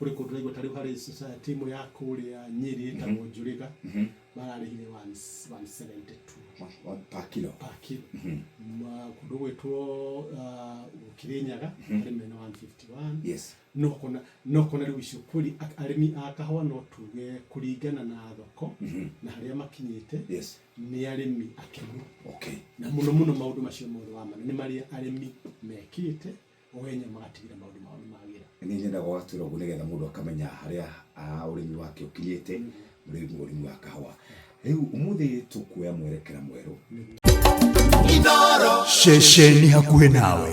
Kũrĩ kũndũ ũraigua ta rĩu harĩ timu ya kũrĩa Nyĩrĩ ĩtagwo Njũrĩga mararĩhire 172 per kilo per kilo kũndũ gwĩtwo Kĩrĩnyaga arĩ mena 151 yes no kona no kona rĩu icio kweli arĩmi a kahũa no tuge kũringana na thoko na harĩa makinyĩte yes nĩ arĩmi akenu okay na mũno mũno maũndũ macio mothe wa mana nĩ marĩa arĩmi mekĩte Oĩ nĩ maratigĩra maũndũ mao nĩ magĩra. Nĩ nyendaga ũgatwĩra ũguo nĩ getha mũndũ akamenya harĩa ũrĩmi wake ũkinyĩte, ũrĩmi wa kahũa. Rĩu ũmũthĩ tũkuoya mwerekera mwerũ. Inooro. Ceceni hakuhĩ nawe.